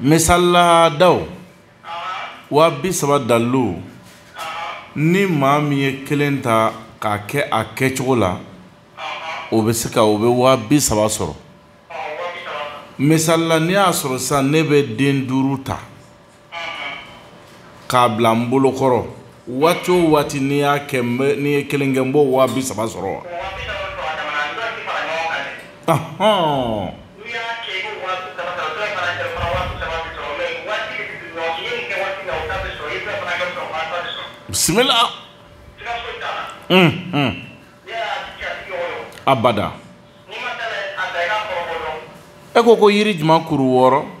Misali la daw waa bi saba dalilu ni maa min ye kelen ta k'a kɛ a kɛcogo la o bɛ se ka o bɛ waa bi saba sɔrɔ misali la n'i y'a sɔrɔ sisan ne bɛ den duuru ta k'a bila n bolo kɔrɔ waati o waati n'i y'a kɛ n bɛ n'i ye kelen kɛ n b'o waa bi saba sɔrɔ wa. Ahɔn. bisimila. unhun. abada. e ko ko yiri jumɛn kuru wɔɔrɔ.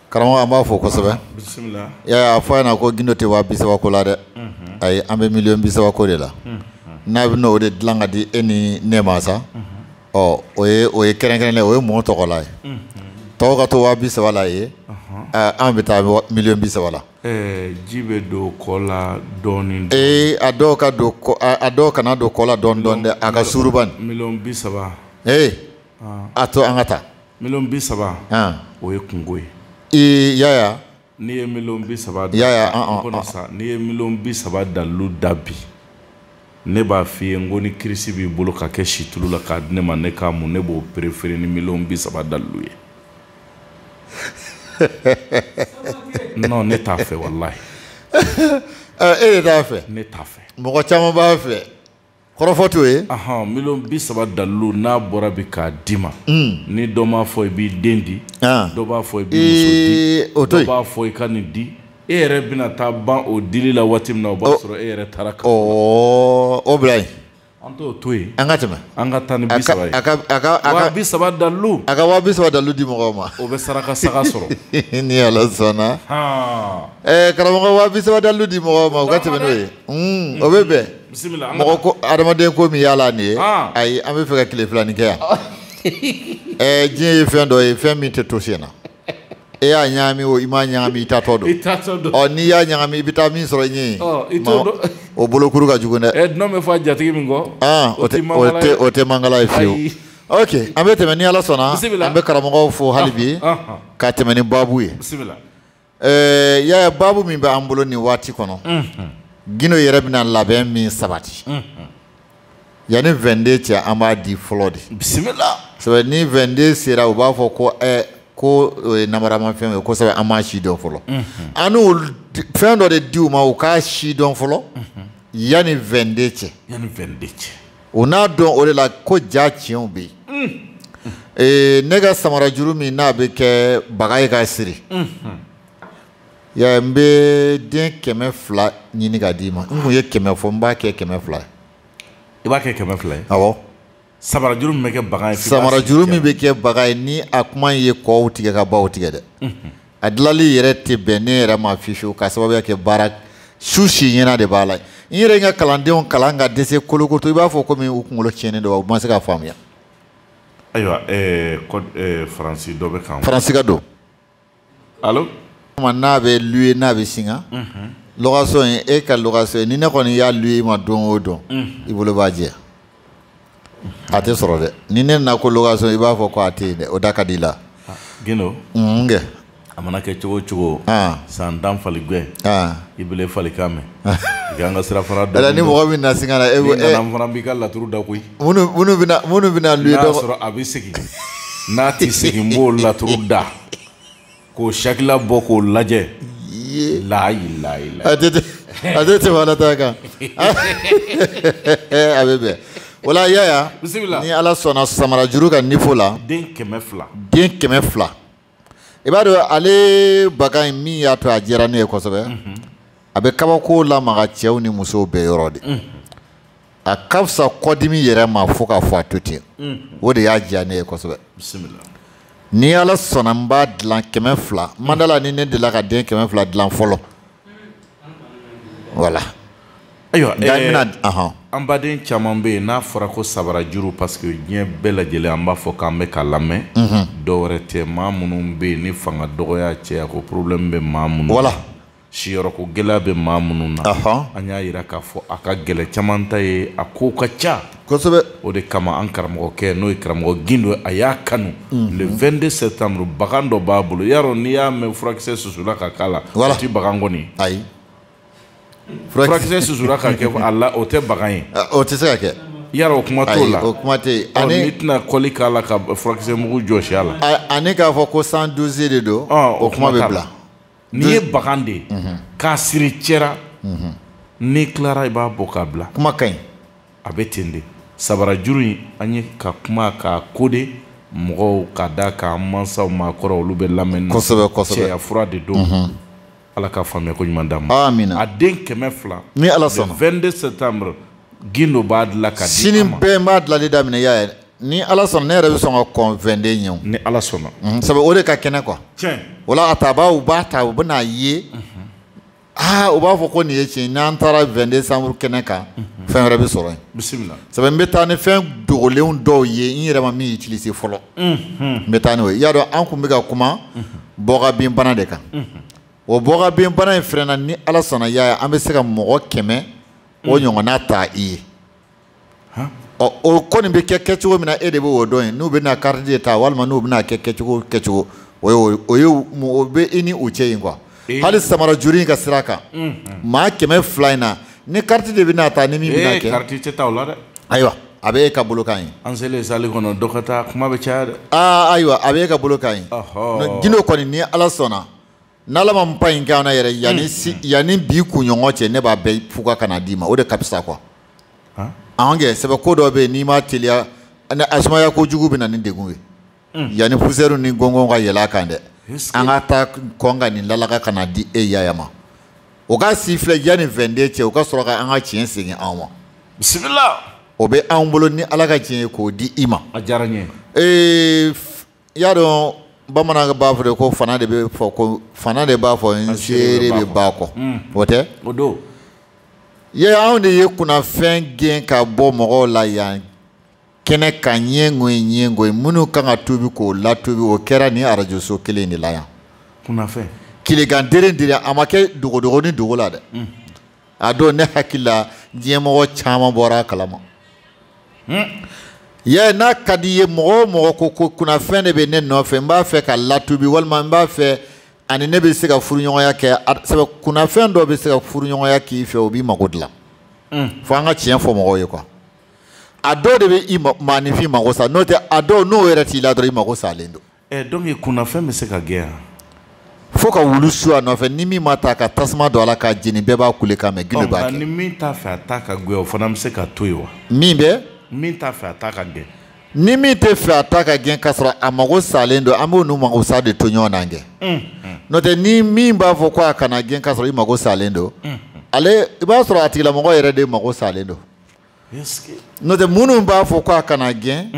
karamɔgɔ an b'a fo kosɛbɛ bisimila yaya a fɔ a ɲɛna ko gindo tɛ waa bi saba ko la dɛ ayi an bɛ miliyɔn bi saba ko de la n'a bɛn'o de dilan ka di e ni ne ma sa ɔ o ye o ye kɛrɛnkɛrɛnnen o ye mɔgɔ tɔgɔla ye tɔw ka to waa bi saba la yen an bɛ taa miliyɔn bi saba la. ji bɛ don kɔ la dɔɔnin. ee a dun ka don a dun kana don kɔ la dɔɔnin dɔɔnin dɛ a ka suuru bani. miliyɔn bi saba. ee. a to an ka taa miliyɔn bi saba o ye kunko ye ee yaya n'i ye miliyɔn bi saba yaya kɔnɔ sa n'i ye miliyɔn bi saba dalilu da bi ne b'a f'i ye n ko ni kirisi b'i bolo ka kɛ situlu la k'a di ne ma ne k'a mun ne b'o perefere ni miliyɔn bi saba dalilu ye non ne t'a fɛ walayi e de t'a fɛ ne t'a fɛ mɔgɔ caman b'a fɛ kɔrɔfɔ t'o ye miliyɔn bi saba dalilu n'a bɔra bi k'a d'i ma hmm. ni dɔ m'a fɔ i b'i den di ah. dɔ b'a fɔ i b'i muso di dɔ b'a fɔ i ka nin di e yɛrɛ bɛna taa ban o dili la waati min na o b'a sɔrɔ e yɛrɛ taara ka o bila yen an t'o to yen an ka tɛmɛ an ka taa ni bi saba ye a ka a ka a ka bi saba dalilu a ka waa bi saba dalilu di mɔgɔw ma o bɛ saraka saga sɔrɔ ni ala sɔnna ɛɛ karamɔgɔ waa bi saba dalilu di mɔgɔw ma o ka tɛmɛ n'o ye o bɛ bɛn bisimila an ka mɔgɔ ko adamaden ko min y'a la nin ye Ah. ayi an bɛ fɛ ka tile filanin kɛ yan ɛɛ diɲɛ ye fɛn dɔ ye fɛn min tɛ to sen na e y'a ɲagami o i m'a ɲagami i taatɔ don i taatɔ don ɔ n'i y'a ɲagami i bɛ taa min sɔrɔ i ɲɛ Ɔ, i t'o dɔn. o bolokuru ka jugu dɛ ɛ dunun bɛ fɔ a jatigi min kɔ Ah, o tɛ o mankala tɛ ye. o tɛ mankala ye fiyewu Ayi. ok an bɛ tɛmɛ ni ala sɔnna Bisimila. an bɛ karamɔgɔw fo hali bi Ah, ah, ka tɛmɛ ni baabu ye bisimila Ɛɛ Yaya baabu min bɛ an bolo nin waati kɔnɔ Gindo yɛrɛ bɛna labɛn min sabati yanni 22 cɛ an b'a di fɔlɔ de bisimila sabu ni 22 sera u b'a fɔ ko ɛ ko namaramafɛn ye kosɛbɛ an m'a si dɔn fɔlɔ an fɛn dɔ de di u ma u k'a si dɔn fɔlɔ yanni 22 cɛ cɛ o n'a dɔn o de la ko ja tiɲɛw bɛ yen ee ne ka samara juru min n'a bɛ kɛ baga ye k'a siri ya n bɛ den kɛmɛ fila ɲini ka d'i ma n kun ye kɛmɛ fɔ n b'a kɛ kɛmɛ fila ye i b'a kɛ kɛmɛ fila ye awɔ samara juru min bɛ kɛ baga ye samara juru min bɛ kɛ baga ye ni a kuma ye kɔw tigɛ ka baw tigɛ dɛ a dilali yɛrɛ tɛ bɛn ne yɛrɛ ma fiyewu ka sababuya kɛ baara su si ɲɛna de b'a la n yɛrɛ ka kalandenw kalan ka dɛsɛ kolokoto i b'a fɔ komi u kunkolo tiɲɛnen don u ma se k'a faamuya. ayiwa eh, eh, faransi dɔ bɛ kan. faransi ka don. alo. n'a bɛ luye n'a bɛ singa. Mhm. location ye e ka location ye ni ne kɔni y'a luye i ma don o don. Mhm. i bolo b'a jɛ. a tɛ sɔrɔ dɛ ni ne nana ko location i b'a fɔ ko a tɛ yen dɛ o da ka di la. Ah, Gindo. N kɛ. a mana kɛ cogo cogo. Ah. san tan fali gɛn. Ah. i bile fali kan mɛn. i kan ka sirafara dɔn. ɛlɛ ni mɔgɔ min na singa na. e ko e nana n fana b'i ka laturu da koyi. minnu minnu bɛna minnu bɛna luye dɔgɔ. n'a sɔrɔ a bɛ segin n'a tɛ segin n b'o laturu da. k'o sakila bɔ k'o lajɛ layilayi a tɛ a tɛ tɛmɛ ala ta kan a bɛ bɛn wala yaya ni ala sɔnna samara juru ka niveau la den kɛmɛ fila den kɛmɛ fila i b'a dɔn ale baga in min y'a to a diyara ne ye kosɛbɛ a bɛ kabako lamaga cɛw ni musow bɛɛ yɔrɔ de a ka fisa kɔdimi yɛrɛ ma fo k'a fɔ a to ten o de y'a diya ne ye kosɛbɛ ni ala sɔnna n b'a dilan kɛmɛ fila n ma d'a la ni ne delila ka den kɛmɛ fila dilan fɔlɔ wala ayiwa eh, an baden caman bɛ yen n'a fɔra ko sabara juru parce que diɲɛ bɛɛ lajɛlen an b'a fɔ k'an bɛ ka lamɛn mhm. dɔ wɛrɛ tɛ maa minnu bɛ yen ni fanga dɔgɔya cɛya ko problème bɛ maa minnu wala siyɔrɔko gɛlɛya bɛ maa minnu na an y'a jira k'a fɔ a ka gɛlɛn caman ta ye a kow ka ca kosɛbɛ o de kama an karamɔgɔkɛ n'o ye karamɔgɔ gindo a y'a kanu mhm. le 22 septembre bagan dɔ b'a bolo yarɔ n'i y'a mɛn furakisɛ susula ka k'a la o tɛ bagan kɔni ayi furakisɛ susula ka kɛ a la o tɛ bagan ye o tɛ se ka kɛ yarɔ o kuma t'o la o kuma tɛ yen n'i tɛna kɔli k'a la ka furakisɛ mugu jɔsi a la ani k'a fɔ ko 112 de don o kuma bɛ bila N'i ye bagan de ye k'a siri cɛ la n'i tilara i b'a bɔ k'a bila kuma ka ɲi a bɛ ten de sabara juru in an ye ka kuma k'a ko de mɔgɔw ka da k'an mansaw maakɔrɔ olu bɛ lamɛn kosɛbɛ kosɛbɛ cɛya fura de don ala ka faamuya ko ɲuman d'a ma amina a den kɛmɛ fila ni ala sɔnna 22 septembre gindo b'a dilan ka di sini bɛɛ b'a dilanli daminɛ yaya ni ala sɔnna ne yɛrɛ bɛ sɔn ka kɔn 22 ɲɛ ni ala sɔnna mhm, sabu o de ka kɛnɛ quoi o la a tabaaw b'a ta u bɛn'a ye mhm. aa ah, u b'a fɔ ko nin ye tiɲɛ n'an taara 22 septembre kɛnɛ kan mhm. fɛn wɛrɛ bɛ sɔrɔ yen sabu n bɛ taa ni fɛn dogolenw dɔw ye n yɛrɛ ma min utilisé fɔlɔ n bɛ taa n'o ye i y'a dɔn an tun bɛ ka kuma bɔgabin bana de kan o bɔgabin bana in fɛnɛ na ni ala sɔnna yaya an bɛ se ka mɔgɔ kɛmɛ o ɲɔgɔnna ta i ye ɔ o kɔni bɛ kɛ kɛcogo min na e de b'o dɔn yen n'u bɛna kariti de ta walima n'u bɛna kɛ kɛcogo kɛcogo o ye o ye o bɛ i ni u cɛ yen quoi hali samara juru in ka sira kan maa kɛmɛ fila in na ni kariti de bɛna ta ni min bɛna kɛ kariti tɛ ta o la dɛ ayiwa a bɛ e ka bolo kan yen an selen sali kɔnɔ dɔ ka taa kuma bɛ caya dɛ aa ayiwa a bɛ e ka bolo kan yen gindo kɔni ni ala sɔnna n'ala ma n pa in kɛ an na yɛrɛ yanni hmm. si yanni bi kunɲɔgɔn cɛ ne b'a bɛɛ fuga ka na d'i ma o de ka fisa quoi an kɛ sɛbɛ ko dɔ bɛ yen n'i ma teliya ani a sumaya kojugu bɛ na ni degun ye hmm. yanni poussière ni gɔngɔn ka yɛlɛ a kan dɛ an ka taa kɔn ka nin lalaga ka na di e yaya ma o ka si filɛ yanni 22 cɛ o ka sɔrɔ ka an ka tiɲɛ segin anw ma bisimila o bɛ anw bolo ni ala ka diɲɛ ye k'o di i ma a diyara n ye ee i y'a dɔn bamanan b'a fɔ de ko fana de bɛ fɔ ko fana de b'a fɔ n seere bɛ ba kɔ hmm. o tɛ o don ye anw de ye kunnafɛn gɛn ka bɔ mɔgɔw la yan kɛnɛ kan ɲɛngo ye ɲɛngo ye minnu kan ka tuubi k'o latuubi o kɛra nin arajoso kelen de la yan kunnafɛn tilegan dere dira a ma kɛ dogodogonin dogo la dɛ hmm. a dɔn ne hakili la diɲɛmɔgɔ caman bɔra a kalama hmm. yɛ n'a ka di ye mɔgɔ o mɔgɔ ko ko kunnafɛn de bɛ ne nɔfɛ n b'a fɛ ka latuubi walima n b'a fɛ ani ne bɛ se ka furuɲɔgɔnya kɛ sabu kunnafɛn dɔ bɛ se ka furuɲɔgɔnya k'i fɛ o b'i mago dilan hmm. fo an ka tiɲɛ fɔ mɔgɔw ye quoi a dɔw de bɛ i maaninfin mago sa n'o tɛ a dɔw n'o yɛrɛ t'i la dɔrɔn i mago salen don ɛ donc kunnafɛn bɛ se ka gɛn yan fo ka wulu su a nɔfɛ ni min b'a ta ka tasuma don a la k'a jeni bɛɛ b'a kulekan mɛ gindo b'a kɛ ni min t'a fɛ a ta ka gɛn yan o fana bɛ se ka to yen wa min bɛ min t'a fɛ a ta ka gɛn ni min t'a fɛ a ta ka gɛn k'a sɔrɔ a mago salen don an b'o n'u mago sa de to ɲɔgɔn na kɛ n'o tɛ ni min b'a fɔ ko a kana gɛn k'a sɔrɔ i mago salen don ale i b'a sɔrɔ a tigilamɔgɔ yɛrɛ de mago salen don n'o tɛ minnu b'a fɔ ko a kana gɛn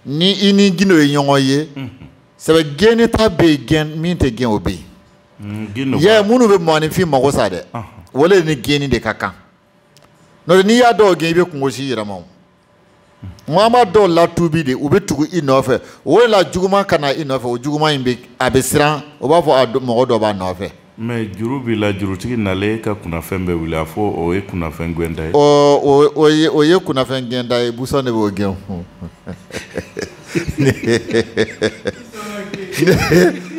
ni i ni gindo ye ɲɔgɔn ye sɛbɛ gɛnni ta bɛ yen gɛn min tɛ gɛn o bɛ yen mm, yɛ minnu bɛ mɔgɔninfin mago sa dɛ o le ni gɛnni de ka kan n'o tɛ n'i y'a dɔw gɛn i bɛ kungo si yɛrɛma o an b'a dɔw latubi de u bɛ tugu i nɔfɛ o de la juguman ka na i nɔfɛ o juguman in bɛ a bɛ siran o b'a fɔ mɔgɔ dɔ b'a nɔfɛ mɛ juru b'i la jurutigi nalen ka kunnafɛn bɛ wuli a fɔ o ye kunnafɛn gwɛnta ye o ye kunnafɛn gwɛnta ye busan de b'o gɛn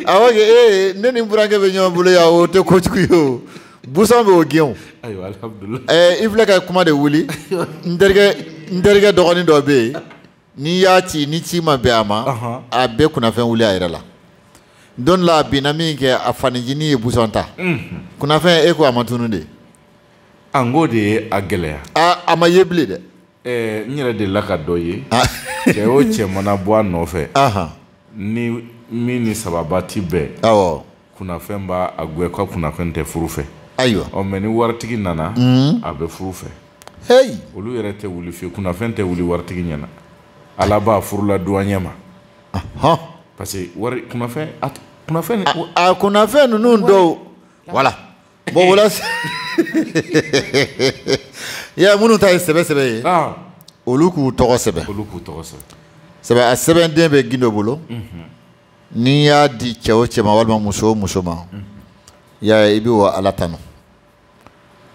awɔ kɛ ee ne ni n burankɛ bɛ ɲɔgɔn bolo yan o tɛ kojugu ye o busan b'o gɛn o ɛɛ i filɛ ka kuma de wuli n terikɛ n terikɛ dɔgɔnin dɔ bɛ yen n'i y'a ci ni ci ma bɛn a ma a bɛ kunnafɛn wuli a yɛrɛ la don la a binna min kɛ a fa ncinin ye busan ta kunnafɛn e ko a ma tunu de a n k'o de ye a gɛlɛya a ma ye bilen dɛ ɛɛ n yɛrɛ delila ka dɔ ye cɛ o cɛ mana bɔ a nɔfɛ ni min ni sababa ti bɛn awɔ kunnafɛn b'a gɛn ka kunnafɛn tɛ furu fɛ ayiwa ɔ mɛ ni waritigi nana mm. a bɛ furu fɛ heyi olu yɛrɛ tɛ wuli fiyewu kunnafɛn tɛ wuli waritigi ɲɛ na ala b'a furula duwaɲɛ ma parce que wari kunnafɛn a kunnafɛn a kunnafɛn ninnu dɔw voilà bon voilà ya minnu ta ye sɛbɛ sɛbɛ ye ah. olu k'u tɔgɔ sɛbɛn olu k'u tɔgɔ sɛbɛn sɛbɛ a sɛbɛnden bɛ gindo bolo mhm. n'i y'a di cɛ o cɛ ma walima muso o muso ma yaya i bɛ wa ala tanu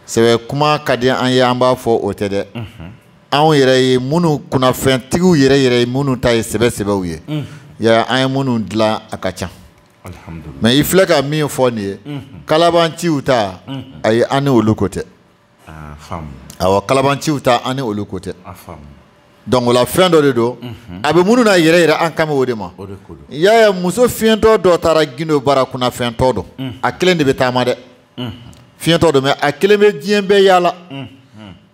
sɛbɛ kuma ka di an ye an b'a fɔ o tɛ dɛ anw yɛrɛ ye minnu kunnafɛntigiw yɛrɛ yɛrɛ ye minnu ta ye sɛbɛ sɛbɛw ye yaya an ye minnu dilan a ka ca mɛ i filɛ ka min fɔ nin ye kalabanciw ta ayi an ni olu ko tɛ awɔ kalabanciw ta an ni olu ko tɛ donc o la fɛn dɔ de don mhm. a bɛ minnu na yɛrɛ yɛrɛ an kan bɛ o de ma yaya muso fiyentɔ dɔ taara gindo bara kunnafɛntɔ don mhm. a kelen de bɛ taama dɛ mhm. fiyentɔ don mɛ a kelen bɛ diɲɛ bɛɛ yaala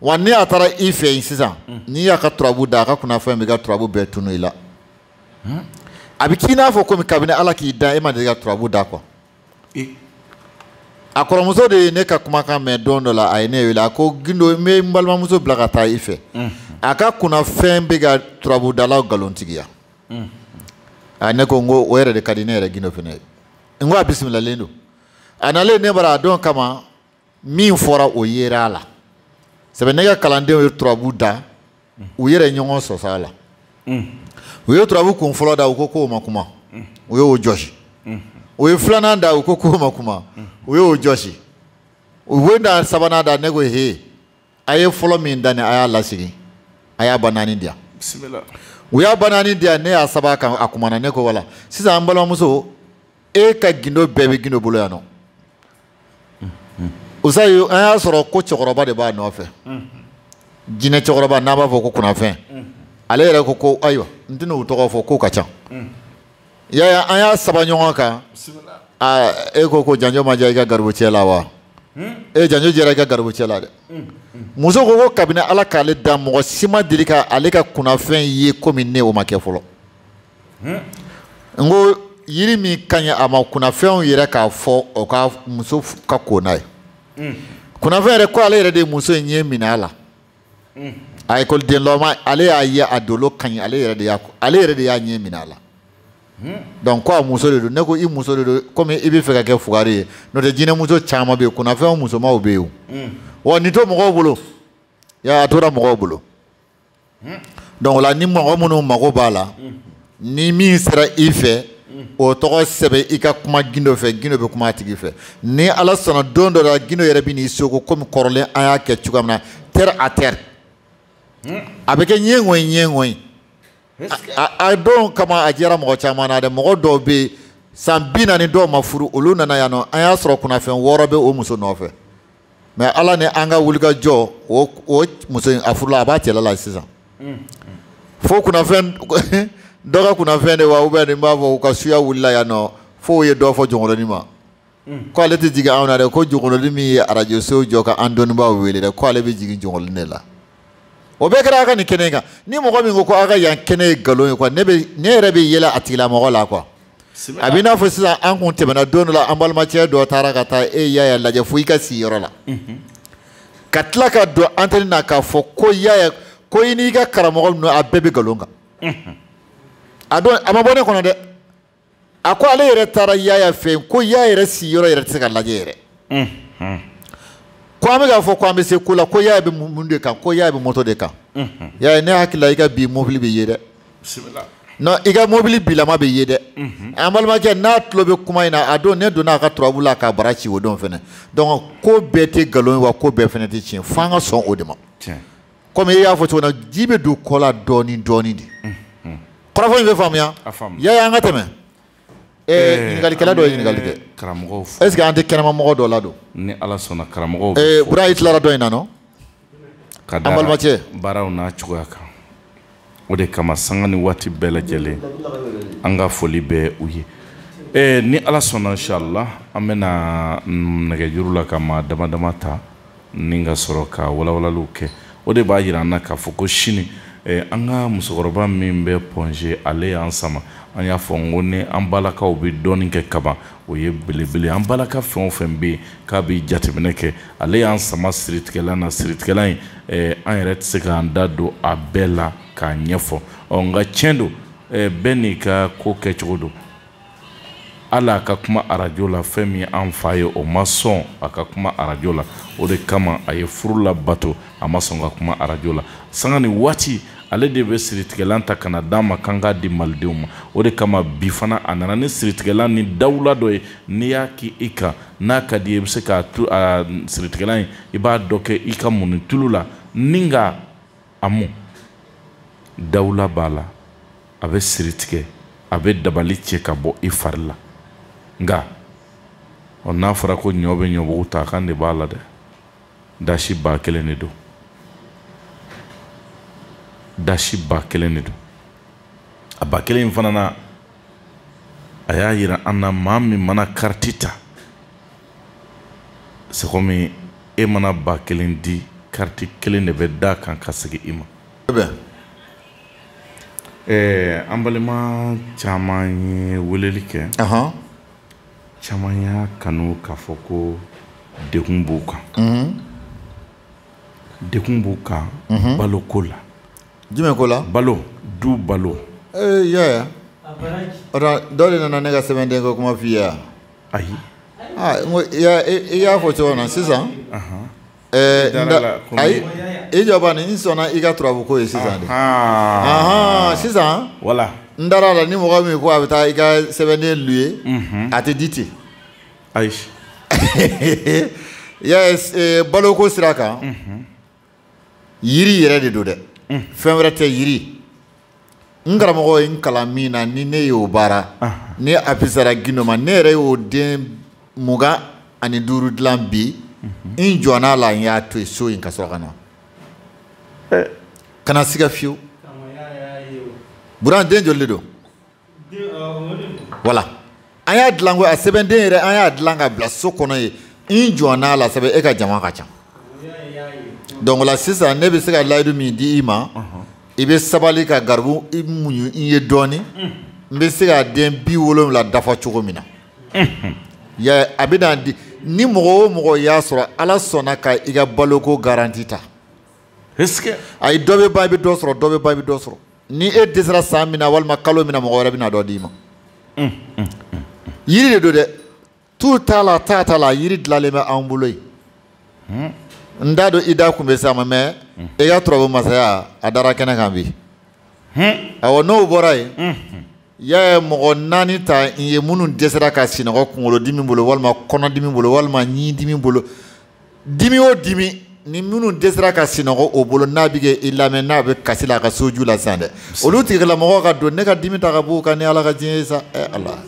wa ni a taara i fɛ yen sisan n'i y'a ka turabu da a ka kunnafɛn b'i ka turabu bɛɛ tunu i la a bɛ k'i n'a fɔ komi kabini ala k'i da e ma deli ka turabu da quoi a kɔrɔmuso de ye ne ka kumakan mɛn don dɔ la a ye ne wele a ko gindo n bɛ n balimamuso bila ka taa i fɛ a ka kunnafɛn bɛ ka turabudalaw nkalontigiya a ne ko n ko o yɛrɛ de ka di ne yɛrɛ gindo fana ye n ko a bisimilalen don a nalen ne bara a dɔn kama min fɔra o yera a la sɛbɛ ne ka kalandenw ye turabu da u yɛrɛ ɲɔgɔn sɔsɔ a la mm. u ye turabu kun fɔlɔ da u ko k'o ma kuma mm. u y'o jɔsi mm. u ye filanan da u ko k'o ma kuma u y'o jɔsi u ye da sabanan da ne ko he a ye fɔlɔ min da ni a y'a lasigi a y'a ba naani di yan u y'a ba naani di yan ne y'a saba kan a kumana ne ko wala sisan an balimamuso e ka gindo bɛɛ bɛ gindo bolo yan nɔ usayi an y'a sɔrɔ ko cɛkɔrɔba de b'a nɔfɛ jinɛ cɛkɔrɔba n'a b'a fɔ ko kunnafɛn ale yɛrɛ ko ko ayiwa n tɛna u tɔgɔ fɔ k'o ka ca yaya an y'a saba ɲɔgɔn kan e ko ko janjo ma diya i ka garibu cɛ la wa e janjo diyara i ka garibu cɛ la dɛ muso ko ko kabini ala k'ale da mɔgɔ si ma deli ka ale ka kunnafɛn ye komi ne o ma kɛ fɔlɔ n ko yiri min ka ɲi a ma kunnafɛnw yɛrɛ k'a fɔ o ka muso ka ko n'a ye hmm. kunnafɛn yɛrɛ ko ale yɛrɛ de ye muso in ɲɛ minɛ a la hmm. a ekɔlidenlama ale y'a ye a dolo ka ɲi ale yɛrɛ de y'a ale yɛrɛ de y'a ɲɛ minɛ a la hmm. donc ko a muso de don ne ko i muso de don komi i b'a fɛ ka kɛ fugari ye n'o tɛ jinɛmuso caman bɛ yen kunnafɛnw musomanw bɛ yen o wa nin to mɔgɔw bolo ya a tora mɔgɔw bolo donc o la ni mɔgɔ minnu mago b'a la ni min sera i fɛ o tɔgɔ sɛbɛn i ka kuma gindo fɛ gindo bɛ kuma a tigi fɛ ni ala sɔnna don dɔ la gindo yɛrɛ bɛ n'i soko komi kɔrɔlen an y'a kɛ cogoya min na terre à terre a bɛ kɛ ɲɔgɔnye ɲɔgɔnye a don kama a diyara mɔgɔ caman na dɛ mɔgɔ dɔw bɛ yen san bi naani dɔw ma furu olu nana yan nɔ an y'a sɔrɔ kunnafɛn wɔɔrɔ bɛ o muso nɔfɛ mais ala ni an ka wulikajɔ o o muso in a furula a b'a cɛla la sisan fo kunnafɛn dɔ ka kunnafɛn de wa ou bien nin b'a fɔ k'u ka suya wulila yan nɔ fo u ye dɔ fɔ jonkoloni ma ko ale tɛ jigin anw na dɛ ko jonkoloni min ye arajo so jɔ ka an dɔnnibaaw wele dɛ ko ale bɛ jigin jonkoloni de la o bɛɛ kɛra a ka nin kɛnɛ in kan ni mɔgɔ min ko ko a ka yan kɛnɛ ye nkalon ye quoi ne bɛ ne yɛrɛ bɛ yɛlɛ a tigilamɔgɔ la quoi a bɛ i n'a fɔ sisan an kun tɛmɛna don dɔ la an balimacɛ dɔ taara ka taa e yaya lajɛ fo i ka si yɔrɔ la ka tila ka don antɛni na k'a fɔ ko yaya ko i n'i ka karamɔgɔ ninnu a bɛɛ bɛ nkalon kan a don a ma bɔ ne kɔnɔ dɛ a ko ale yɛrɛ taara yaya fɛ yen ko yaya yɛrɛ si yɔrɔ yɛrɛ tɛ se ka lajɛ yɛrɛ ko an bɛ k'a fɔ ko an bɛ se ko la ko yaya bɛ mun de kan ko yaya bɛ moto de kan yaya ne hakili la i ka bi mobili bɛ yen dɛ non i ka mobili bilama bɛ yen dɛ an balimakɛ n'a tulo bɛ kuma in na a don ne donna a ka turabu la k'a bara ci o don fɛnɛ donc ko bɛɛ tɛ nkalon ye wa ko bɛɛ fɛnɛ tɛ tiɲɛ f'an ka sɔn o de ma komi e y'a fɔ cogo min na ji bɛ don kɔ la dɔɔni dɔɔni de kɔrɔfɔ in bɛ faamuya yaya an ka tɛmɛ ɲininkalikɛla dɔ ye ɲininkali kɛ karamɔgɔw fo est ce que an tɛ kɛnɛma mɔgɔ dɔ ladon ni ala sɔnna karamɔgɔw bɛ fo bura i tilara dɔ in na nɔ ka da an balimacɛ baaraw n'a cogoya kan o de kama sanga ni waati bɛɛ lajɛlen an ka foli bɛ u ye ee ni ala sɔnna inshallah an bɛna nɛgɛjuru la ka maa dama dama ta ni ka sɔrɔ ka walawalaliw kɛ o de b'a yira an na k'a fɔ ko sini eh, an ka musokɔrɔba min bɛ pɔnze ale y'an sama an y'a fɔ n ko ni an balakaw bɛ dɔɔnin kɛ kaban o ye belebele an balaka fɛn o fɛn bɛ yen k'a bɛɛ jateminɛ kɛ ale y'an sama siritigɛlan na siritigɛlan in eh, an yɛrɛ tɛ se k'an da don a bɛɛ la k'a ɲɛfɔ ɔ nka tiɲɛ don eh, bɛɛ n'i ka ko kɛcogo don hali a ka kuma arajo la fɛn min an fa ye o ma sɔn a ka kuma arajo la o de kama a ye furu labato a ma sɔn ka kuma arajo la sanga ni waati ale de bɛ siritigɛlan ta ka na d'a ma kan k'a di malidenw ma o de kama bi fana a nana ni siritigɛlan ni dawula dɔ ye n'i y'a k'i i kan n'a ka d'i ye i bɛ se k'a tu a siritigɛlan in i b'a dɔ kɛ i ka muni tulu la ni ka a mun dawula b'a la a bɛ siritigɛ a bɛ dabali cɛ ka bɔ i fari la nka ɔ n'a fɔra ko ɲɔ bɛ ɲɔbugu ta kan de b'a la dɛ dasi ba kelen de don dasi ba kelen de don a ba kelen in fana na a y'a yira an na maa min mana kariti ta c'est comme e mana ba kelen di kariti kelen de bɛ d'a kan ka segin i ma an balima caman ye weleli kɛ caman y'a kanu k'a fɔ ko degun b'u kan mhm. degun b'u kan mhm. balo ko la jumɛn ko la balo du balo ee eh, yaya ɔtɔ dɔ de nana ne ka sɛbɛnden ko kuma f'i ye wa ayi ah, n ko i y'a fɔ cogo min na sisan ayi i jɔ bani n sɔnna i ka turabu ko ye sisan de sisan wala n dara la ni mɔgɔ min ko a bɛ taa i ka sɛbɛnden lu ye a tɛ di ten ayi baloko sira kan yiri yɛrɛ de don dɛ fɛn wɛrɛ tɛ yiri n karamɔgɔ ye n kalan min na ni ne y'o baara ni a fisara gindo ma ne yɛrɛ y'o den mugan ani duuru dilan bi mhm. n jɔnna a la n y'a to yen so in ka sɔrɔ ka na eh. kana siga fiyewu bura den joli de don wala an y'a dilan ko a sɛbɛnden yɛrɛ an y'a dilan ka bila so kɔnɔ yen n jɔnna a la sabu e ka jama ka ca donc o la sisan ne bɛ se ka layidu min di i ma i bɛ sabali ka garibu i muɲu n ye dɔɔni n bɛ se ka den bi wolonwula dafa cogo min na ya a bɛ na di ni mɔgɔ o mɔgɔ y'a sɔrɔ ala sɔnna ka i ka baloko garanti ta ayi dɔ bɛ ban i bɛ dɔ sɔrɔ dɔ bɛ ban i bɛ dɔ sɔrɔ ni e dɛsɛra san min na walima kalo min na mɔgɔ wɛrɛ bɛna dɔ d'i ma yiri de don dɛ tu t'a la taa t'a la yiri dilanlen bɛ an bolo yen n t'a dɔn i da kun bɛ s'a ma mɛ e ka turabu masaya a dara kɛnɛ kan bi awɔ n'o bɔra yen yaya mɔgɔ naani ta n ye minnu dɛsɛra ka sinɔgɔ kunkolodimi bolo walima kɔnɔdimi bolo walima ɲidimi bolo dimi o dimi ni minnu dɛsɛra ka sinɔgɔ o bolo n'a bɛ ka i lamɛn n'a bɛ kasi la a ka soju la sisan dɛ olu tigilamɔgɔw ka don ne ka dimi ta ka b'u kan ni ala ka diɲɛ ye sa ɛ ala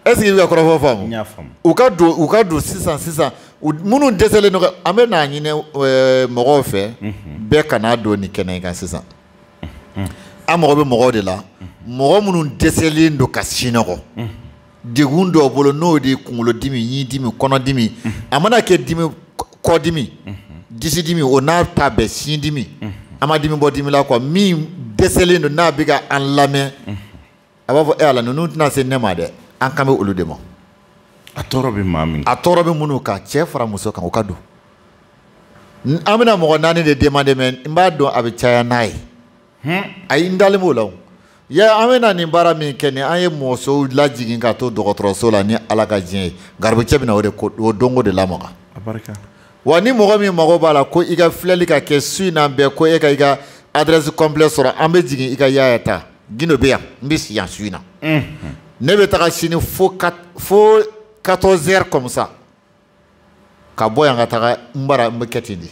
est-ce que i bɛ ka kɔrɔfɔ faamu u ka don u ka don sisan sisan minnu dɛsɛlen don an bɛ n'a ɲini eh, mɔgɔw fɛ mhm. bɛɛ kana don nin kɛnɛ kan sisan mhm. an mago bɛ mɔgɔw de la mhm. mɔgɔ minnu dɛsɛlen don ka sinɔgɔ degun dɔw bolo n'o de ye kunkolodimi ɲidimi kɔnɔdimi a mana kɛ dimi kɔdimi disidimi o n'a ta bɛɛ sindimi an ma dimi bɔ dimi la quoi min dɛsɛlen don n'a bɛ ka an lamɛn a b'a fɔ e ala ninnu tɛna se ne ma dɛ an kan bɛ olu de ma a tɔɔrɔ bɛ maa min a tɔɔrɔ bɛ minnu kan cɛ fara muso kan o ka don an bɛna mɔgɔ naani de demander mɛ n b'a dɔn a bɛ caya n'a ye hmm? ayi n dalen b'o la o ye an bɛna nin baara min kɛ ni an ye musow lajigin ka to dɔgɔtɔrɔso la ni ala ka diɲɛ ye garibukɛ bɛna o de ko o dɔnko de lamaga wa ni mɔgɔ min mago b'a la ko i ka filɛli ka kɛ su in na bɛɛ ko e ka i ka adresse complet sɔrɔ an bɛ jigin i kan yaya ta gindo bɛ yan n bɛ si yan su in na ne bɛ taga sini fo fo 14 heures comme ça ka bɔ yan ka taga n bara n bɛ kɛ ten de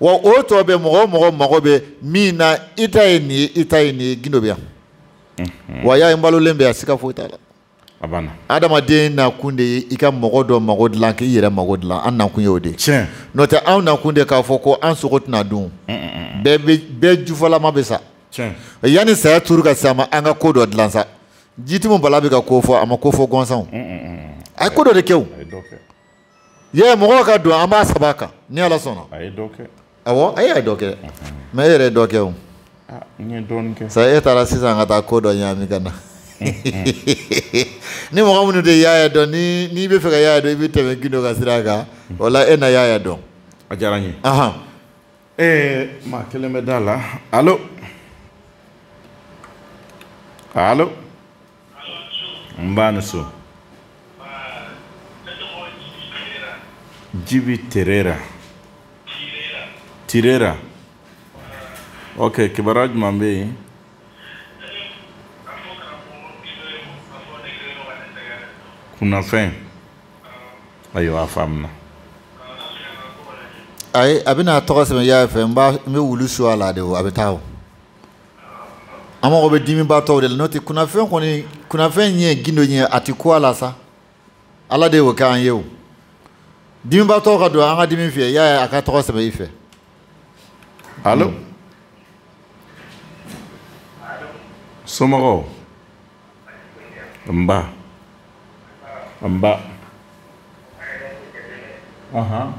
wa o tɔ bɛ mɔgɔ o mɔgɔ mago bɛ min na i ta ye nin ye i ta ye nin ye gindo bɛ yan wa yaya n balolen bɛ yan siga foyi t'a la a banna adamaden nakun de ye i ka mɔgɔ dɔ mago dilan k'i yɛrɛ mago dilan an nakun y'o de tiɲɛ n'o tɛ anw nakun de k'a fɔ ko an sogo tɛna dun bɛɛ bɛ bɛɛ jufɔlama bɛ sa tiɲɛ yanni saya turu ka se a ma an ka ko dɔ dilan sa jitimu bala bɛ ka ko fɔ a ma ko fɔ gansanw a ye ko dɔ de kɛ o a ye dɔ kɛ ye mɔgɔw ka don an b'a saba kan ni ala sɔnna a ye dɔ kɛ awɔ a y'a dɔ kɛ mais e yɛrɛ ye dɔ kɛ o ah, n ye dɔɔni kɛ sa e taara sisan ka taa ko dɔ ɲagami ka na ni mɔgɔ minnu tɛ yaaya dɔn n'i bɛ fɛ ka yaaya dɔn i bɛ tɛmɛ gindo ka sira kan o la e na yaaya dɔn a diyara n ye ee maa kelen bɛ da la alo alo nba a ni su jibi tirera tirera ok kibaruya jumɛn bɛ yen kunnafɛn ayiwa a faamuna ayi a bɛna a tɔgɔ sɛbɛn yaaya fɛ n b'a n bɛ wulu su a la de o a bɛ taa o an mago bɛ dimibaatɔw de la n'o tɛ kunnafɛn kɔni kunnafɛn ye gindo ye a tɛ ko a la sa ala de y'o kɛ an ye o dimibaatɔw ka don an ka dimi fiyɛ yaaya a ka tɔgɔ sɛbɛn i fɛ alo somɔgɔw nba nba ahan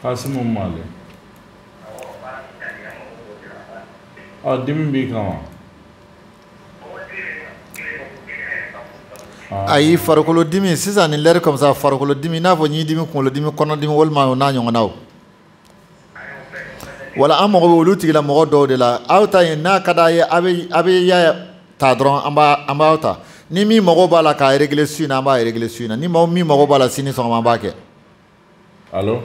kasimu male ɔ dimi b'i kan wa ayi farikolo dimi sisan ni lɛri comme ça farikolo dimi n'a fɔ ɲidimi kunkolodimi kɔnɔdimi walima o n'a ɲɔgɔnnaw wala an mago bɛ olu tigila mɔgɔ dɔw de la aw ta ye n'a ka d'a ye a bɛ a bɛ yaaya ta dɔrɔn an b'a an b'aw ta ni min mago b'a la k'a réglé su in na an b'a réglé su in na ni maa min mago b'a la sini sɔgɔma an b'a kɛ. alo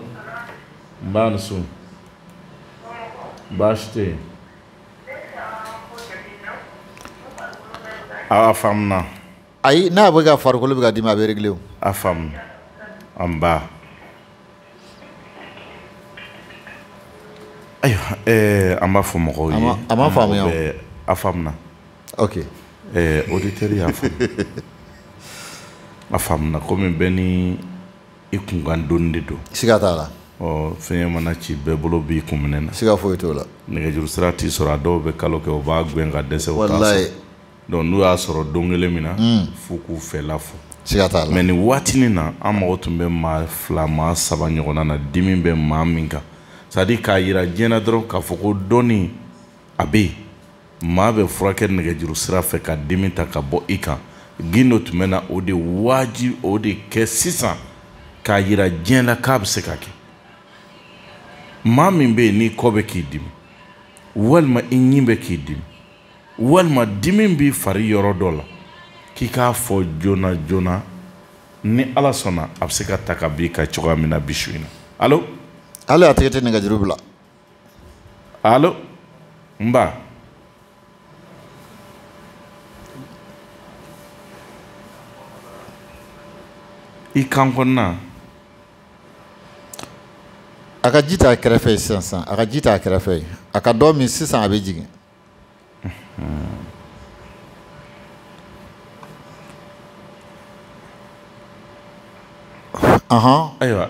nba a ni su baasi tɛ yen a faamuna. ayi n'a bɛ ka farikolo bɛ ka dimi a bɛ réglé o. a faamuna nba. ayiwa ɛɛ an b'a fɔ mɔgɔw ye. a ma faamuya o a faamuna. ok. ɛɛ auditeur y'a faamu a faamuna komi bɛɛ ni i kunkan doni de don. siga t'a la. ɔ fiɲɛ mana ci bɛɛ bolo b'i kun minɛn na. siga foyi t'o la. nɛgɛjuru sira t'i sɔrɔ a dɔw bɛ kalo kɛ u b'a gɛn ka dɛsɛ u t'a sɔrɔ. walayi. donc n'u y'a sɔrɔ don kelen min na hmm. f'u k'u fɛla fɔ mais nin waatinin na an mago tun bɛ maa fila maa saba ɲɔgɔnna na dimi bɛ maa min kan c'est-à-dire k'a yira diɲɛ na dɔrɔn k'a fɔ ko dɔnniya bɛ yen maa bɛ furakɛ nɛgɛjuru sira fɛ ka dimi ta ka bɔ i kan gindo tun bɛna o de wajibi o de kɛ sisan k'a yira diɲɛ la k'a bɛ se ka kɛ maa min bɛ yen n'i kɔ bɛ k'i dimi walima i ɲin bɛ k'i dimi walima dimi b'i fari yɔrɔ dɔ la k'i k'a fɔ joona joona ni ala sɔnna a bɛ se ka ta ka b'i kan cogoya min na bi su in na alo hali a tɛgɛ tɛ nɛgɛjuru bila alo n ba i kan kɔnɔna a ka ji t'a kɛrɛfɛ ye sisan sisan a ka ji t'a kɛrɛfɛ ye a ka dɔ min sisan a bɛ jigin ayiwa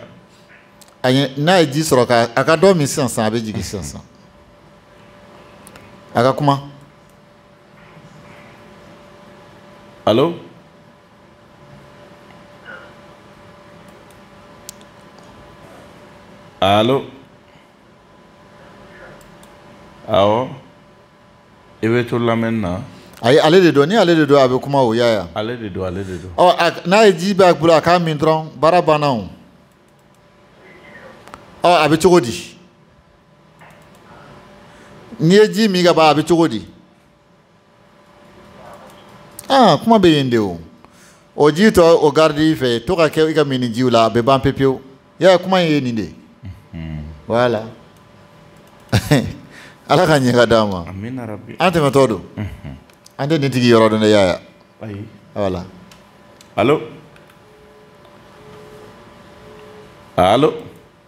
n'a ye ji sɔrɔ ka a ka dɔ min sisan sisan a bɛ jigin sisan sisan a ka kuma alo alo awɔ i bɛ to lamɛnni na. ayi ale de don ni ale de don a bɛ kuma o yaya. ale de don ale de don. ɔ n'a ye ji b'a bolo a k'a min dɔrɔn baara banna o. ɔ a bɛ cogo di. n'i ye ji min ka ban a bɛ cogo di. aa kuma bɛ yen de o o ji tɔ o garidi i fɛ to ka kɛ i ka minjiw la a bɛ ban pepewu yaya kuma in ye nin de voilà ala ka ɲɛ ka d'an ma an tɛmɛtɔ don an tɛ nin tigi yɔrɔ dɔn dɛ yaya voilà alo alo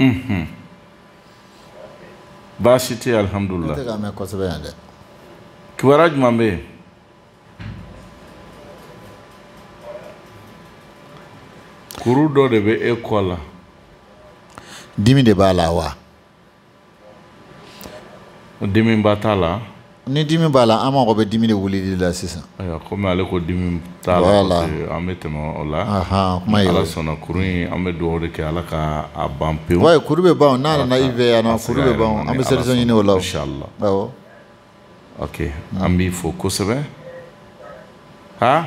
Mm-hmm. baasi tɛ alihamudulila ne tɛ k'a mɛn kosɛbɛ yan dɛ kibaruya jumɛn bɛ yen kuru dɔ de bɛ e kɔ la dimi de b'a la wa dimi ba t'a la ni dimi b'a la an mago bɛ dimi de wulili la sisan ayiwa komi ale ko dimi t'a la Voilà. parce que an bɛ tɛmɛ o la Ahan, kuma ye o ala sɔnna kuru in an bɛ dugawu de kɛ ala ka a ban pewu wa ayi kuru bɛ ban o n'a nana i fɛ yan nɔ kuru bɛ ban o. an bɛ solution ɲini o la o. inshallah awɔ ok an b'i fo kosɛbɛ ha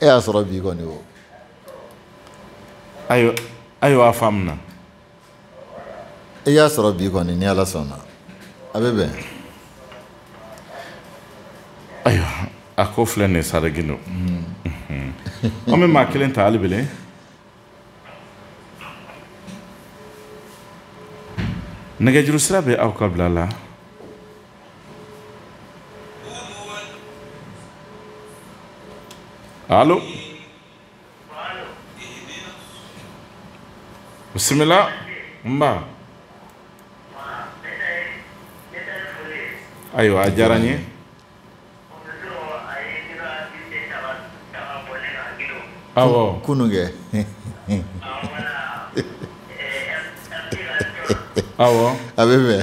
e y'a sɔrɔ bi kɔni o ayiwa ayiwa a faamuna i y'a sɔrɔ bi kɔni ni ala sɔnna a bɛ bɛn ayiwa a ko filɛ nin ye saregino an bɛ maa kelen ta hali bilen nɛgɛjuru sira bɛ aw ka bila la alo bisimila nba ayiwa a diyara n ye kunun kɛ a bɛ fɛ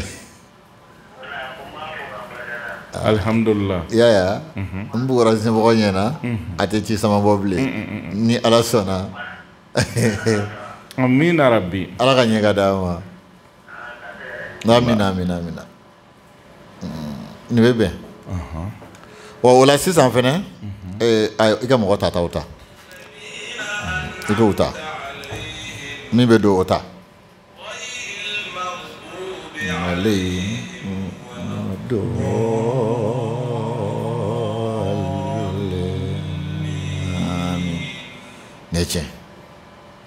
alihamdulila yaya n bugɔra Zimbabwe ɲɛna a tɛ ci samabɔ bilen ni Ala sɔnna amiina yarabi Ala ka ɲɛ ka d'an ma amina amina amina nin bɛ bɛn wa o la sisan fɛnɛ i ka mɔgɔ tataw ta i k'o ta min bɛ don o ta ale ne tiɲɛ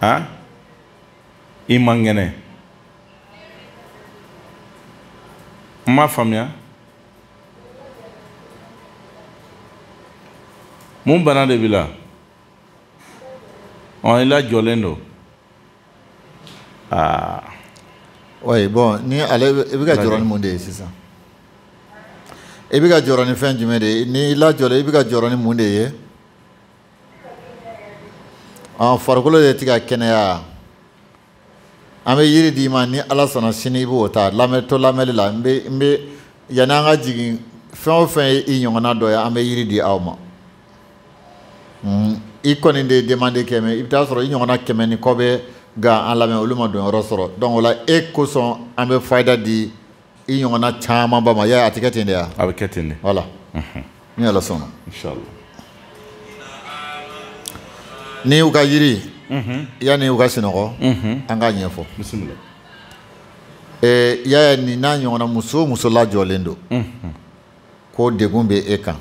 a i man kɛnɛ n m'a faamuya mun bana de b'i la ɔ i lajɔlen don aa oui bon ni ale i bɛ ka jɔrɔ ni mun de ye sisan i bɛ ka jɔrɔ ni fɛn jumɛn de ye ni i lajɔlen i bɛ ka jɔrɔ ni mun de ye ɔ farikolo de ti ka kɛnɛya an bɛ yiri d'i ma ni ala sɔnna sini i b'o ta lamɛn to lamɛnni la n bɛ n bɛ yanni an ka jigin fɛn o fɛn ye i ɲɔgɔnna dɔ ye an bɛ yiri di aw ma hmm, i kɔni de ye demande kɛ mais i bɛ taa sɔrɔ i ɲɔgɔnna kɛmɛ ni kɔ bɛ ka an lamɛn olu ma donyɔrɔ sɔrɔ donc o la e kosɔn an bɛ fayida di i ɲɔgɔnna caman ba ma yaya a tɛ kɛ ten de wa a bɛ kɛ ten de voilà ni ala sɔnna ni u ka yiri yanni u ka sinɔgɔ an k'a ɲɛfɔ bisimila ee yaya nin n'a ɲɔgɔnna muso o muso lajɔlen don ko degun bɛ e kan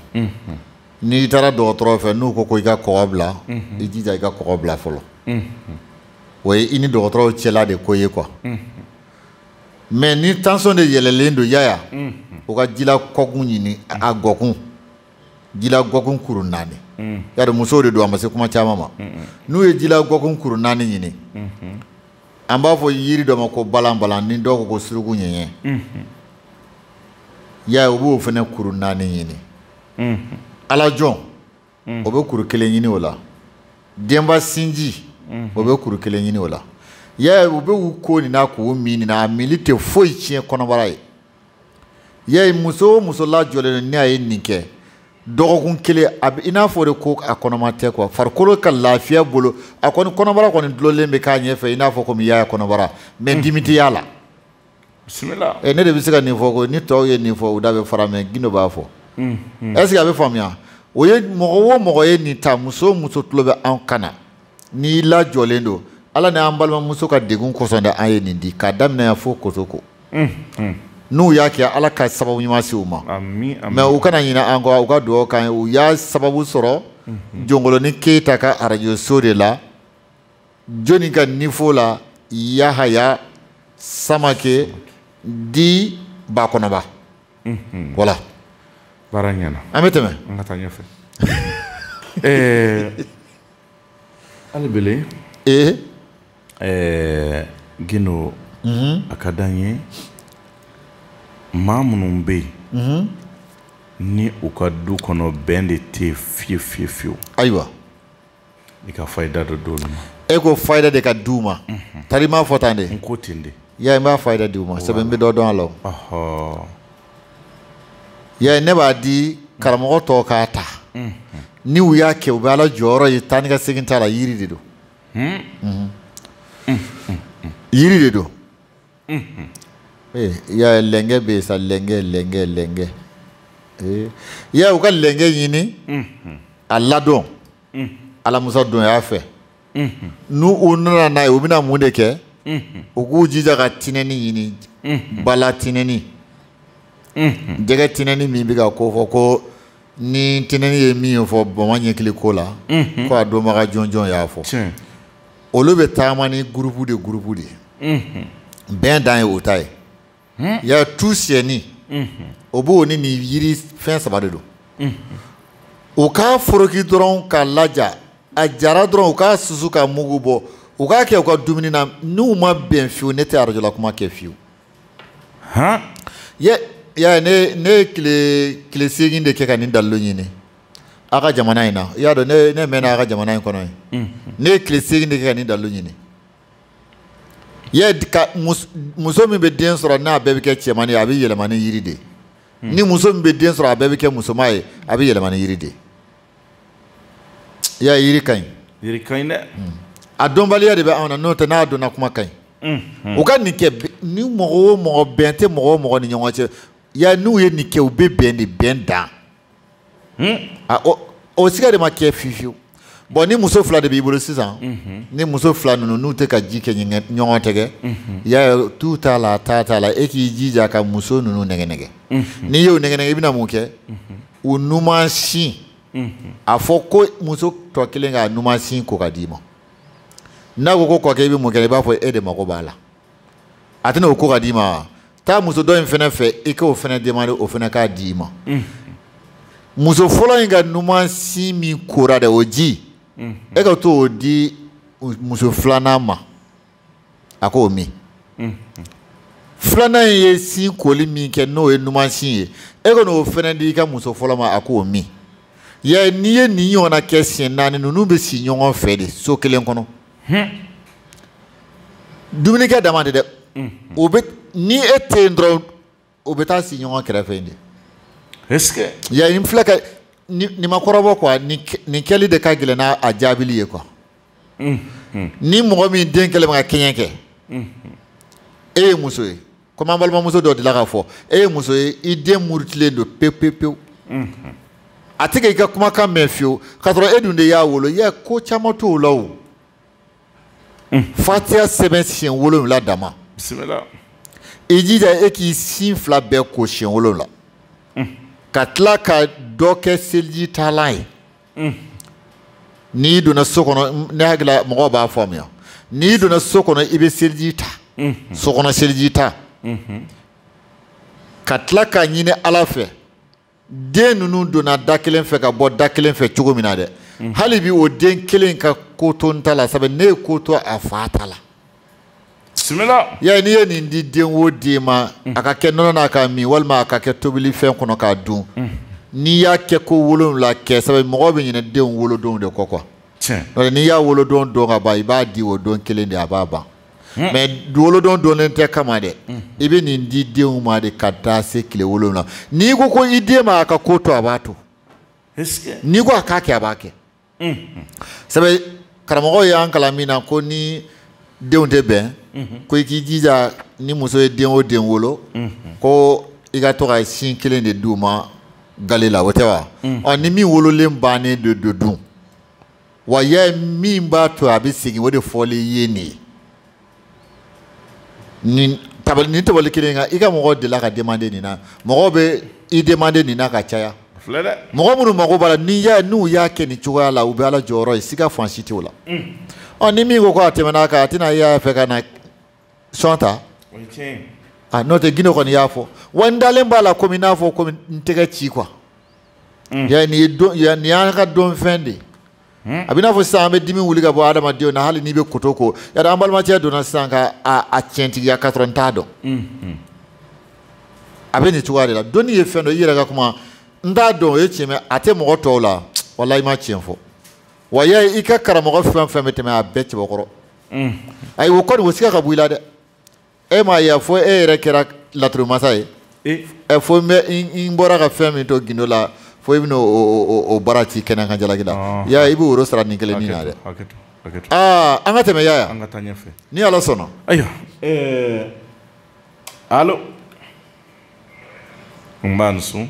n'i taara dɔgɔtɔrɔ fɛ n'u ko ko i ka kɔgɔ bila i jija i ka kɔgɔ bila fɔlɔ o ye i ni dɔgɔtɔrɔw cɛla de ko ye quoi mais ni tension de yɛlɛlen don yaya mm. u ka jila kɔkun ɲini a gɔkun jila gɔkun kuru naani mm. yari musow de don a ma se kuma caman ma n'u ye jila gɔkun kuru naani ɲini mm-hmm. an b'a fɔ yiri dɔ ma ko balan balan ni dɔw ko ko suruku ɲɛɲɛ mm-hmm. yaya u b'o fana kuru naani ɲini mm-hmm. alajɔn mm. o bɛ kuru kelen ɲini o la denba sinji mm-hmm. o bɛ kuru kelen ɲini o la yaya u bɛ u ko nin na k'u min nin na a mili tɛ foyi tiɲɛ kɔnɔbara ye yaya muso o muso lajɔlen don ni a ye nin kɛ dɔgɔkun kelen a bɛ i n'a fɔ de ko a kɔnɔma tɛ kuwa farikolo ka lafiya bolo a kɔni kɔnɔbara kɔni dulonlen bɛ k'a ɲɛfɛ i n'a fɔ komi yaya kɔnɔbara mɛ mm-hmm. dimi tɛ y'a la. bisimila eh, ne de bɛ se ka nin fɔ ko ni tɔw ye nin fɔ u da bɛ fara mɛ gindo b'a fɔ mm, mm. est ce que a bɛ faamuya o ye mɔgɔ o mɔgɔ ye nin ta muso o muso tulo bɛ anw kan na n'i lajɔlen don ala ni an balimamuso ka degun kosɔn dɛ an ye nin di k'a daminɛ yan fo kotoko mm, n'u y'a kɛ ala ka sababu ɲuman se u ma mɛ u kana ɲinɛ an kɔ u ka dugawu k'an ye u y'a sababu sɔrɔ jɔnkolonin keyita ka arajoso de la joni ka nifo la yahaya samake di bakɔnɔba mhm. wala baara ɲɛna an bɛ tɛmɛ an ka taa ɲɛfɛ eh, hali bele ee eh, gindo mhm. a ka d'an ye maa minnu bɛ yen mhm. ni u ka du kɔnɔ bɛn de tɛ fiye fiye fiyewu ayiwa i ka fayida dɔ d'olu ma e ko fayida de ka di u ma tari i m'a fɔ tan de n ko ten de ya n b'a fayida di u ma sɛbɛn n bɛ dɔ dɔn a la o ya ne b'a di karamɔgɔ tɔw k'a ta ni u y'a kɛ u bɛ ala jɔyɔrɔ ye taa ni ka segin t'a la yiri de don yiri de don Eh, ya lɛnkɛ bɛ yen sa lɛnkɛ lɛnkɛ lɛnkɛ eh, ya u ka lɛnkɛ ɲini a ladon alamusa donya fɛ n'u u nana n'a ye u bɛna mun de kɛ u k'u jija ka tinɛni ɲini ba la tinɛni jɛgɛ tinɛni min bɛ ka ko fɔ ko ni tinɛni ye min ye fɔ bama ɲɛkili ko la ko a dɔnbaga jɔnjɔn y'a fɔ olu bɛ taama ni gurupu de gurupu de ye bɛn dan ye o ta ye ya tu siyɛni o b'o ni nin yiri fɛn saba de don u k'a foroki dɔrɔn k'a laja a jara dɔrɔn u k'a susu ka mugu bɔ u k'a kɛ u ka dumuni na n'u ma bɛn fiyewu ne tɛ arajolakuma kɛ fiyewu han ye ya ne ye kile kile segin de kɛ ka nin dalilu ɲini a ka jamana in na i y'a dɔn ne mɛnna a ka jamana in kɔnɔ ye ne ye kile segin de kɛ ka nin dalilu ɲini ye muso min bɛ den sɔrɔ n'a bɛɛ bɛ kɛ cɛmani ye a bɛ yɛlɛma ni yiri de ye ni muso min bɛ den sɔrɔ a bɛɛ bɛ kɛ musoman ye a bɛ yɛlɛma ni yiri de ye i y'a ye yiri ka ɲi yiri ka ɲi dɛ a dɔnbaliya de bɛ anw na n'o tɛ n'a dɔnna kuma ka ɲi u ka nin kɛ ni mɔgɔ o mɔgɔ bɛn tɛ mɔgɔ o mɔgɔ ni ɲɔgɔn cɛ ya n'u ye nin kɛ u bɛ bɛn de bɛn dan a o o siga de ma kɛ fiyewu fiyewu bon ni muso fila de b'i bolo sisan ni muso fila ninnu n'u tɛ ka ji kɛ ɲɛgɛn- ɲɔgɔn tɛgɛ ya ye tu t'a la taa t'a la e k'i jija ka muso ninnu nɛgɛ nɛgɛ n'i y'o nɛgɛ nɛgɛ i bɛna mun kɛ u numan sin a fɔ ko muso tɔ kelen k'a numan sin ko ka d'i ma n'a ko ko kɔkɛ i bɛ mun kɛ i b'a fɔ e de mago b'a la a tɛna o ko ka d'i ma wa taa muso dɔ in fɛnɛ fɛ i k'o fɛnɛ demande o fɛnɛ k'a d'i ma muso fɔlɔ in ka numan sin min kora dɛ o ji e ka t'o di muso filanan ma a k'o min filanan in ye sin koli min kɛ n'o ye numan sin ye e ka n'o fɛnɛ di i ka muso fɔlɔ ma a k'o min ya n'i ye nin ɲɔgɔnna kɛ siɲɛ naani ninnu bɛ si ɲɔgɔn fɛ de so kelen kɔnɔ dumunikɛ dama tɛ dɛ o bɛ ni e tɛ yen dɔrɔn o bɛ taa si ɲɔgɔn kɛrɛfɛ yen de est ce que ya n filɛ ka nin ma kɔrɔbɔ quoi nin kɛli de ka gɛlɛn n'a jaabili ye quoi ni mɔgɔ min den kɛlen bɛ ka kɛɲɛ kɛ e ye muso ye komi an balimamuso dɔ delila k'a fɔ e ye muso ye i den murutilen don pewu pewu pewu a tɛ ka i ka kumakan mɛn fiyewu k'a sɔrɔ e dun de y'a wolo i y'a ye ko caman t'o la o fatiya sɛbɛn siɲɛ wolonwula dama i jija e k'i sin fila bɛɛ ko siɲɛ wolonwula ka tila ka dɔ kɛ seliji talan ye n'i donna so kɔnɔ ne hakili la mɔgɔw b'a faamuya n'i donna so kɔnɔ i bɛ seliji ta so kɔnɔ seliji ta ka tila k'a ɲini ala fɛ den ninnu donna da kelen fɛ ka bɔ da kelen fɛ cogo min na dɛ mhm. hali bi o den kelen ka ko to n ta la sabu ne ye ko to a fa ta la bisimila ya n'i ye nin di den o den ma mhm. a ka kɛ nɔnɔ na k'a min walima a ka kɛ tobili fɛn kɔnɔ k'a dun mhm. n'i y'a kɛ ko wolonwula kɛ sabu mɔgɔ bɛ ɲinɛ denw wolodonw de kɔ quoi n'i y'a wolodon dɔn ka ban i b'a di o don kelen de a b'a ban Hmm. mais wolodon dɔnnen tɛ kama dɛ hmm. i bɛ nin di denw ma de ka taa se tile wolonwula n'i ko ko i den ma a ka ko to a b'a to n'i ko a k'a kɛ a b'a kɛ hmm. sabu karamɔgɔw y'an kalan min na ko ni denw tɛ bɛn ko i k'i jija ni muso ye den o den wolo ko i ka to ka sin kelen de d'u ma gale la o tɛ wa ɔ ni min wololen bannen de don dun wa yaya min b'a to a bɛ segin o de fɔli ye nin ye nin tabali nin tabali kelen kan i ka mɔgɔ delila ka demande nin na mɔgɔw bɛ i demande nin na ka caya filɛ dɛ mɔgɔ minnu mago b'a la n'i y'a n'u y'a kɛ nin cogoya la u bɛ ala jɔyɔrɔ ye siga fan si t'o la ɔ ni min ko ko a tɛmɛna a kan a tɛna y'a fɛ ka na sɔn ta n'o tɛ gine kɔni y'a fɔ wa n dalen b'a la komi n'a fɔ komi n tɛgɛci quoi mm. ya nin ye don ya nin y'an ka dɔnfɛn de hmm? a bɛ n'a fɔ sisan an bɛ dimi wuli ka bɔ adamadenw na hali n'i bɛ koto ko yari an balimacɛ donna sisan ka a a tiɲɛtigiya k'a sɔrɔ n t'a dɔn hmm, hmm. a bɛ nin cogoya de la dɔnni ye fɛn dɔ i yɛrɛ ka kuma n t'a dɔn o ye tiɲɛ mɛ a tɛ mɔgɔ tɔw la walahi i ma tiɲɛ fɔ wa ya i ka karamɔgɔ fɛn fɛn bɛ tɛmɛ a bɛɛ cɛbakɔrɔ ayi o kɔni o siga ka bɔ i la dɛ e m'a ye fo e yɛrɛ kɛra laturumasa ye eh. ɛ fo n bɛ n bɔra ka fɛn min to gindo la fo i bɛna o baara ci kɛnɛ kan jalaki la ah. yaya i bɛ woro sara nin kelen nin na dɛ aa an ka tɛmɛ yaya ni ala sɔnna ayiwa eh, alo nba n sen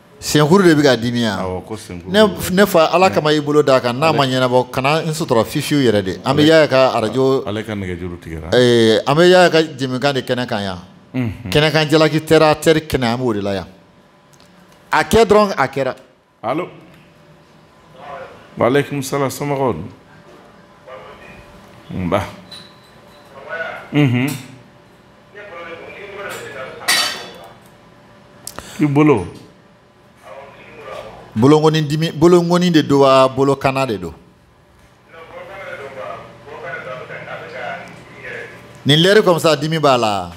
senkuru de bɛ ka dimi yan ne fa ala kama i bolo d'a kan n'a ma ɲɛnabɔ kana n sutura fiyewu yɛrɛ de an bɛ yaya ka arajo an bɛ yaya ka jɛmukan de kɛnɛ kan yan kɛnɛkan jalaki terre à terre kɛnɛ an b'o de la yan a kɛ dɔrɔn a kɛra waaleykum salaam somɔgɔw don nba i bolo bolonkɔni dimi bolonkɔni de don wa bolokana de don nin lɛri comme ça dimi b'a la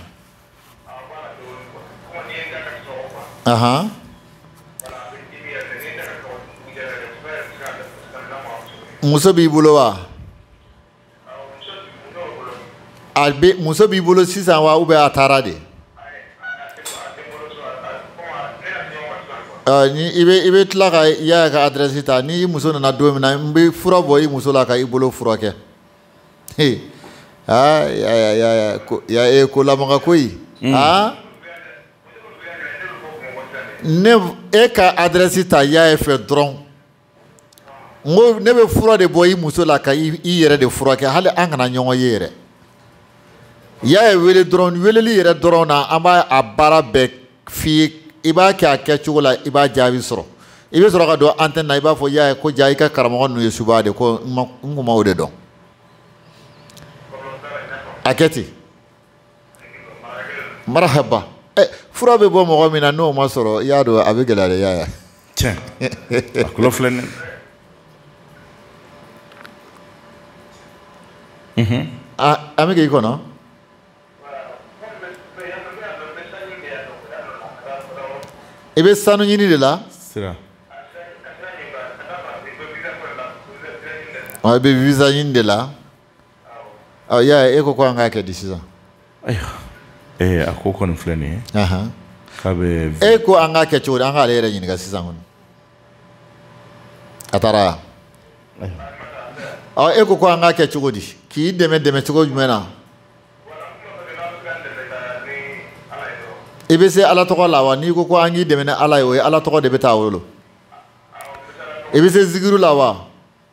ahan muso b'i bolo wa a bɛ muso b'i bolo sisan wa ou bien a taara de ɔ ni i bɛ i bɛ tila ka yaya ka adrɛsi ta ni i muso nana don min na n bɛ fura bɔ i muso la ka i bolo furakɛ he aa yaya yaya ko ya e ko lamaga koyi aa ne e ka adrɛsi ta yaya fɛ dɔrɔn. n ko ne bɛ fura de bɔ i muso la ka i yɛrɛ de furakɛ hali an kana ɲɔgɔn ye yɛrɛ yaya wele dɔrɔn weleli yɛrɛ dɔrɔn na an b'a a baara bɛɛ f'i ye i b'a kɛ a kɛcogo la i b'a jaabi sɔrɔ i bɛ sɔrɔ ka don antɛni na i b'a fɔ yaya ko ja i ka karamɔgɔ ninnu ye suba de ko n kun ma o de dɔn a kɛ ten marahaba ɛ eh, fura bɛ bɔ mɔgɔ min na n'o ma sɔrɔ i y'a dɔn a bɛ gɛlɛya de yaya tiɲɛ a kulo filɛ nin mhm. an bɛ k'i kɔnɔ i bɛ sanu ɲini de la sira i bɛ visa ɲini de la ɔ yaya e ko ko an k'a kɛ di sisan ayiwa ee a ko kɔni filɛ nin ye k'a bɛ e ko an k'a kɛ cogo di an k'ale yɛrɛ ɲininka sisan kɔni a taara ɔ e ko ko an k'a kɛ cogo di k'i dɛmɛ dɛmɛ cogo jumɛn na i bɛ se ala tɔgɔ la wa n'i ko ko an k'i dɛmɛ ni ala ye o ye ala tɔgɔ de bɛ taa wolo i bɛ se zikiru la wa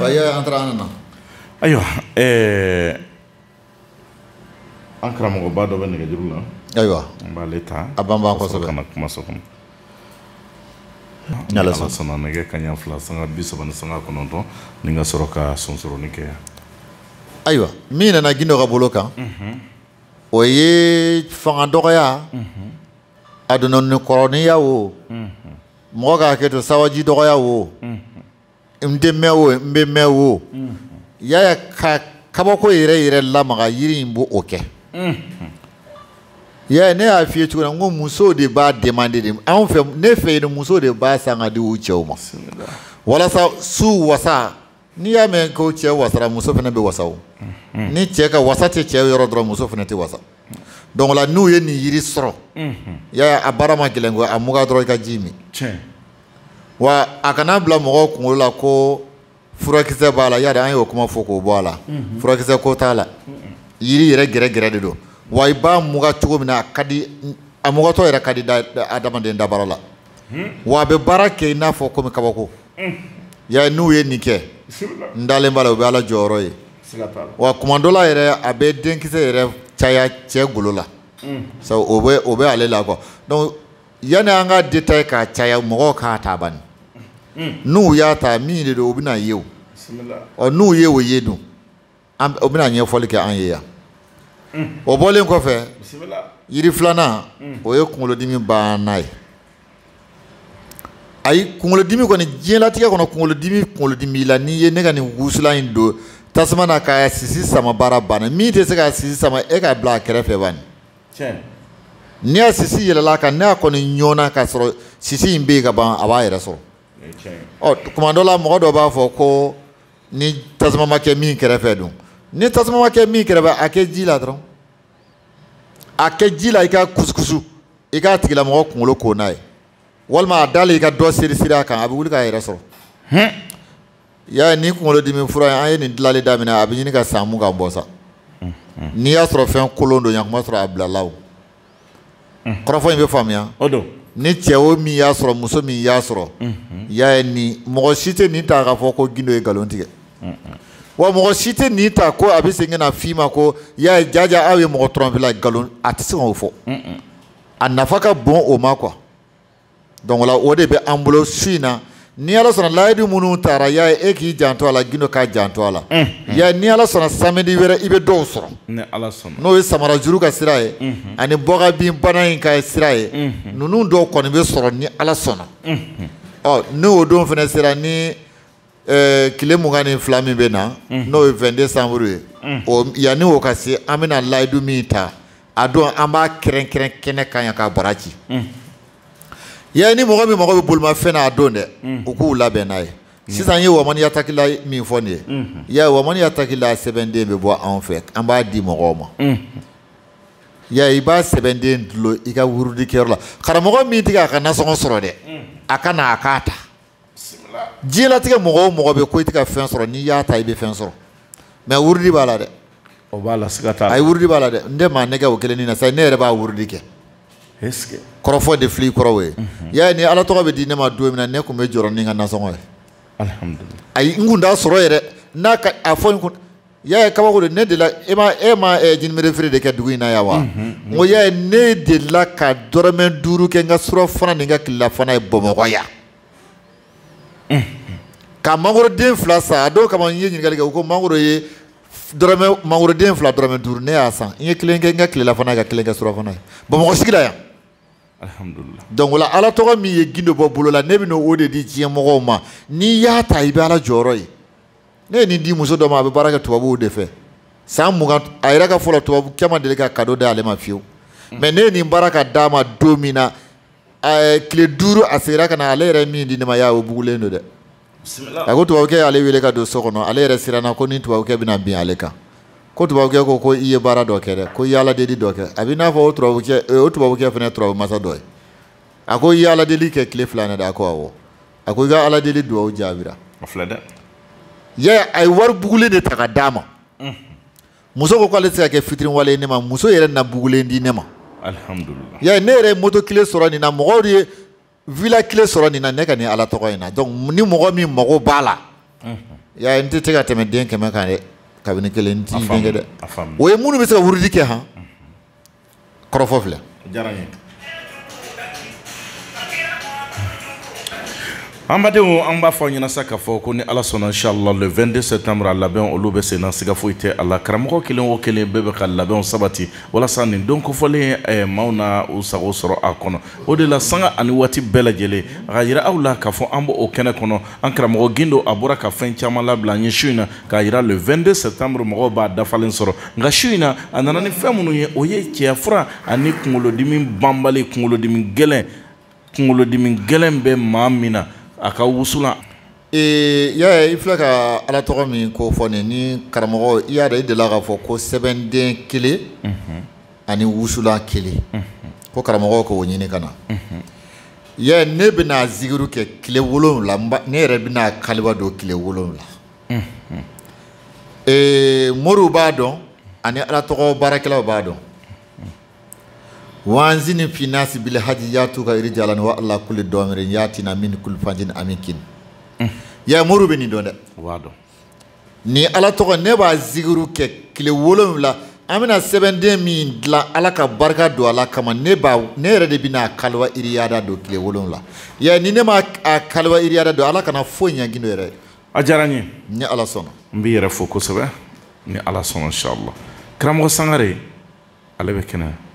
Ayiwa an taara an nana ayiwa an karamɔgɔba dɔ bɛ nɛgɛ juru la ayiwa an b'ale ta a ban kɔsɔ kana kuma so kɔnɔ ala sɔnna nɛgɛ kanɲɛ fila sanga bi saba ni sanga kɔnɔntɔn ni ka sɔrɔ ka sonsoroni kɛ ayiwa min nana gindo ka bolo kan o ye fanga dɔgɔya a donna ni kɔrɔniya o mɔgɔ ka hakɛ to sawaji dɔgɔya o n tɛ mɛn o n bɛ mɛn o yaya ka kabako yɛrɛ yɛrɛ lamaga yiri in b'o o kɛ yaya ne y'a f'i ye cogo min ko musow de b'a demande de anw fɛ ne fɛ yen musow de b'a san ka di u cɛw ma walasa su wasa N'i y'a mɛn ko cɛ wasara muso fana bɛ wasa ni cɛ ka wasa tɛ cɛ yɔrɔ dɔrɔn muso fana tɛ wasa donc la n'u ye nin yiri sɔrɔ yaya a baara ma gɛlɛn a mugan dɔrɔn i ka ji min wa a kana bila mɔgɔw kunkolo la ko furakisɛ b'a la ya an y'o kuma fɔ k'o bɔ a la furakisɛ ko t'a la yiri yɛrɛ gɛrɛ gɛrɛ de don wa i b'a mugan cogo min na a ka di a mugantɔ yɛrɛ ka di adamaden dabara la wa a bɛ baara kɛ i n'a fɔ kɔmi kabako ya n'u ye nin kɛ n dalen b'a la u bɛ ala jɔyɔrɔ ye wa kuma dɔ la yɛrɛ a bɛ denkisɛ yɛrɛ caya cɛ golo la sabu o bɛ o bɛ ale la quoi donc yanni an ka détail k'a caya mɔgɔw k'a ta bani n'u y'a ta min de don u bɛn'a ye o ɔ n'u ye o ye dun an o bɛna ɲɛfɔli kɛ an ye yan o bɔlen kɔfɛ yiri filanan o ye kunkolodimi bana ye ayi kunkolodimi kɔni diɲɛlatigɛ kɔnɔ kunkolodimi kunkolodimi b'i la n'i ye ne ka nin wusulan in don tasuma na k'a sisi sama baara banna min tɛ se k'a sisi sama e k'a bila a kɛrɛfɛ bani ni a sisi yɛlɛla a kan n'a kɔni ɲɔnna k'a sɔrɔ sisi in bɛ yen ka ban a b'a yɛrɛ sɔrɔ ɔ kuma dɔ la mɔgɔ dɔ b'a fɔ ko ni tasuma ma kɛ min kɛrɛfɛ don ni tasuma ma kɛ min kɛrɛfɛ a kɛ ji la dɔrɔn a kɛ ji la i k'a kusukusu i k'a tigilamɔgɔ kunkolo ko n'a ye walima a dalen i ka dɔ seri seri a kan a bɛ wuli k'a yɛrɛ sɔrɔ hmm. y'a nin kunkolodimi fura an ye nin dilali daminɛ a bɛ ɲini ka san mugan bɔ sa hmm, hmm. n'i y'a sɔrɔ fɛn kolon don y'a kun b'a sɔrɔ a bilala o kɔrɔfɔ in bɛ faamuya o don ni cɛ o min y'a sɔrɔ muso min y'a sɔrɔ y'a ye nin mɔgɔ si tɛ nin ta k'a fɔ ko gindo ye nkalon tigɛ wa mɔgɔ si tɛ nin ta ko a bɛ segin na f'i ma ko y'a ye jaja aw ye mɔgɔ tɔrɔnpela nkalon a tɛ se k'o fɔ a nafa ka bon o ma quoi donc o la o de bɛ an bolo su in na ni ala sɔnna layidu minnu taara y'a ye e k'i janto a la gindo k'a janto a la y'a ni ala sɔnna samedi wɛrɛ i bɛ dɔw sɔrɔ n'o ye samara juru ka sira ye ani bɔgabin bana in ka sira ye ninnu dɔw kɔni bɛ sɔrɔ ni ala sɔnna ɔ n'o don fana sera ni eh, tile mugan ni fila min bɛ na mhm. n'o ye 22 décembre ye mhm. o yanni o ka se an bɛna layidu min ta a don an b'a kɛrɛnkɛrɛn kɛnɛ kan yan k'a bara ci mhm. yɛ ni mɔgɔ min mago bɛ bolimafɛn na a don dɛ u k'u labɛn n'a ye sisan ye wamani yatakila min fɔ nin ye yɛ wamani yatakila sɛbɛnden bɛ bɔ anw fɛ an b'a di mɔgɔw ma ya i b'a sɛbɛnden dulon i ka wurudikɛyɔrɔ la karamɔgɔ min tɛ k'a ka nasɔngɔ sɔrɔ dɛ a ka na a k'a ta diɲɛlatigɛ mɔgɔ o mɔgɔ bɛ ko i tɛ ka fɛn sɔrɔ n'i y'a ta i bɛ fɛn sɔrɔ mais wurudi b'a la dɛ o b'a la siga t'a la ayi wurudi b'a la dɛ n tɛ maa nɛgɛn o kelen ni na sa ne yɛrɛ b'a wurudi kɛ kɔrɔfɔ de fili kɔrɔ o ye mhm. y'a nin ala tɔgɔ bɛ di ne ma don min na ne kun bɛ jɔrɔ ni n ka nasɔngɔ ye ayi n kun t'a sɔrɔ yɛrɛ n'a ka a fɔ n kun y'a ye kabako don ne delila e ma e ma eh, jinimere feere de kɛ dugu in na yan wa mhm, n ko y'a ye ne delila ka dɔrɔmɛ duuru kɛ n ka surafana ni n ka tilelafana ye bamakɔ yan mhm. ka mangoroden fila san a dɔw kama n ye ɲininkali kɛ u ko mangoro ye dɔrɔmɛ mangoroden fila dɔrɔmɛ duuru ne y'a san n ye kelen kɛ n ka tilelafana ye ka kelen kɛ surafana ye bamakɔ sigi la yan donc o la ala tɔgɔ min ye gindo bɔ bolo la ne bɛna o de di diɲɛ mɔgɔw ma n'i y'a ta i bɛ ala jɔyɔrɔ ye ne ye nin di muso dɔ ma a bɛ baara kɛ tubabuw de fɛ san mugan a yɛrɛ ka fɔ la tubabukɛ ma deli ka kado d'ale ma fiyewu mm. mais ne ye nin baara ka d'a ma don min na tile duuru a seginna ka na ale yɛrɛ min di ne ma y'a o bugulen don dɛ a ko tubabukɛ y'ale wele ka don so kɔnɔ ale yɛrɛ siranna ko ni tubabukɛ bɛna bin ale kan ko tubabukɛ ko ko i ye baara dɔ kɛ dɛ ko i y'ala deli dɔ kɛ a b'i n'a fɔ o tubabukɛ o tubabukɛ fana ye tubabumasa dɔ ye a ko i y'ala deli kɛ tile fila na dɛ a ko awɔ a ko i ka ala deli dugawu jaabira a filɛ dɛ yɛ a ye wari bugulen de ta ka d'a ma muso ko k'ale tɛ se ka kɛ fitiriwale ye ne ma muso yɛrɛ na bugulen di ne ma alihamudulila yɛ ne yɛrɛ ye moto kile sɔrɔ nin na mɔgɔw de ye vila kile sɔrɔ nin na ne ka nin ala tɔgɔ in na donc ni mɔgɔ min mago b'a la yɛ n tɛ se ka tɛmɛ den kɛmɛ kan dɛ kabini kelen n t'i denkɛ dɛ o ye minnu bɛ se ka wurudi kɛ han kɔrɔfɔ filɛ diyara n ye an badenw an b'a fɔ aw ɲɛna sa k'a fɔ ko ni ala sɔnna inshallah le 22 septembre a labɛnw olu bɛ senna siga foyi tɛ a la karamɔgɔ kelen o kelen bɛɛ bɛ ka labɛnw sabati walasa nin don kofɔlen eh, maaw na u sago sɔrɔ a kɔnɔ o de la sanga ani waati bɛɛ lajɛlen a ka yira aw la k'a fɔ an b'o kɛnɛ kɔnɔ an karamɔgɔ gindo a bɔra ka fɛn caman labila an ye su in na k'a yira le 22 septembre mɔgɔw b'a dafalen sɔrɔ nka su in na a nana ni fɛn minnu ye o ye cɛya fura ani kunkolodimi banbali kunkolodimi gɛlɛn kunkolodimi gɛlɛn bɛ maa min na a ka wusulan Ee yaa i filɛ ka ala tɔgɔ min kofɔ nin ni karamɔgɔ i y'a dɔn i dela k'a fɔ ko sɛbɛnden kelen ani wusulan kelen ko karamɔgɔ k'o ɲini ka na yɛ ne bɛna zigiru kɛ tile wolonwula ne yɛrɛ bɛna kaliwa don tile wolonwula ee moriw b'a dɔn ani ala tɔgɔ baarakɛlaw b'a dɔn wa azini fi nasi bil haji yatuka rijalan wa ala kulli damirin yatina min kulli fajin amikin mm. ya moriw bɛ nin dɔn dɛ wa donc nin ala tɔgɔ ne b'a zigiru kɛ kile wolonwula an bɛna sɛbɛnden min dilan ala ka barika don a la kama ne b'a ne yɛrɛ de bɛna a kaliwa iriyada don kile wolonwula ya ni ne ma a kaliwa iriyada don ala kana foyi ɲa gindo yɛrɛ a diyara n ye ni ala sɔnna n b'i yɛrɛ fo kosɛbɛ ni ala sɔnna sala karamɔgɔ sangare ale bɛ kɛnɛ